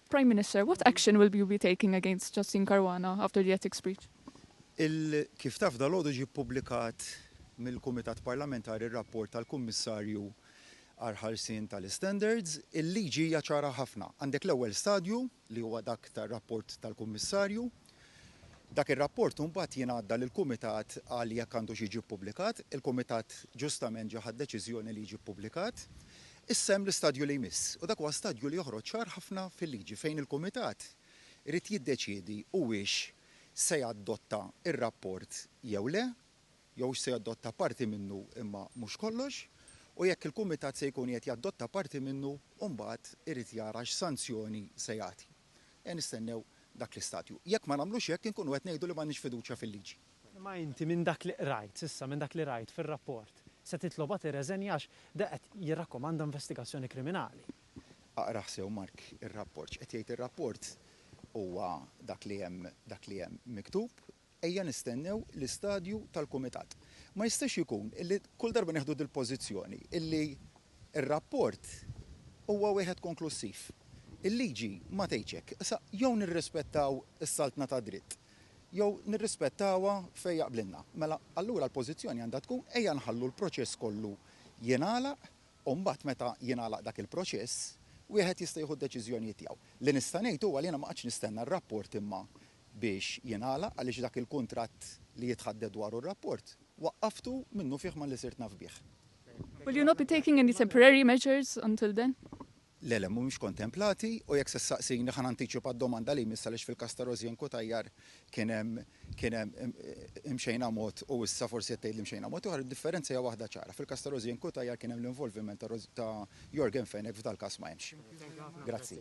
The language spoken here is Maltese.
Prime Minister, what action will you be taking against Justin Caruana after the ethics breach? Kif taf dal-għodu ġie ppubblikat mill-Kumitat Parlamentari r-rapport tal-Kummissarju għal ħarsien tal-Istandards, il-liġi hija ċara ħafna. Għandek l-ewwel stadju li huwa dak tar-rapport tal-Kummissarju. Dak ir-rapport imbagħad jingħadda lill-Kumitat għal jekk għandux jiġi ppubblikat. Il-Kumitat ġustament ġa ħa d-deċiżjoni li jiġi ppubblikat. Issa hemm l-istadju li jmiss u dak huwa stadju li joħroġ ċar ħafna fil-liġi fejn il-Kumitat irid jiddeċiedi huwiex se jadotta r-rapport jew le. jew se jadotta parti minnu imma mhux kollox, u jekk il-Kumitat se jkun qiegħed jadotta parti minnu, u mbagħad irid jara x'sanzjoni se jagħti. Ejja nistennew dak l-istadju. Jekk ma nagħmlux hekk inkunu qed ngħidu li m'għandniex fiduċja fil-liġi. Imma inti minn dak li qrajt s'issa, minn dak li rajt fir-rapport, se titlobha tirreżenja għax da qed jirrakkomanda investigazzjoni kriminali. Aqrah sew Mark ir-rapport. X'qed jgħid ir-rapport huwa dak li hemm dak li hemm miktub. Ejja nistennew l-istadju tal-kumitat. Ma jistax ikun illi kull darba nieħdu dil-pożizzjoni illi r-rapport huwa wieħed konklussiv. Il-liġi ma tgħidx hekk. Issa jew nirrispettaw is-saltna tad-dritt jew nirrispettawha fejn jaqblilna. Mela allura l-pożizzjoni għandha tkun ejja nħallu l-proċess kollu jingħalaq u mbagħad meta jingħalaq dak il-proċess wieħed jista' jieħu d-deċiżjonijiet tiegħu. Li nista' ngħid huwa li jiena ma qgħadtx nistenna r-rapport imma biex jingħalaq għaliex dak il-kuntratt li jitħaddet dwaru r-rapport waqqaftu minnufih malli sirt naf bih. Will you not be taking any temporary measures until then? Le, le, mhumiex kontemplati u jekk se ssaqsini ħa nantiċipa d-domanda li jmiss għaliex fil-każ ta' Rosianne Cutajar kien hemm kien hemm imxejna mod u issa forsi qed tgħidli mxejna mod ieħor, id-differenza hija waħda ċara. Fil-każ ta' Rosianne Cutajar kien hemm l-involviment ta' Yorgen Fenech f'dal-każ ma hemmx. Grazzi.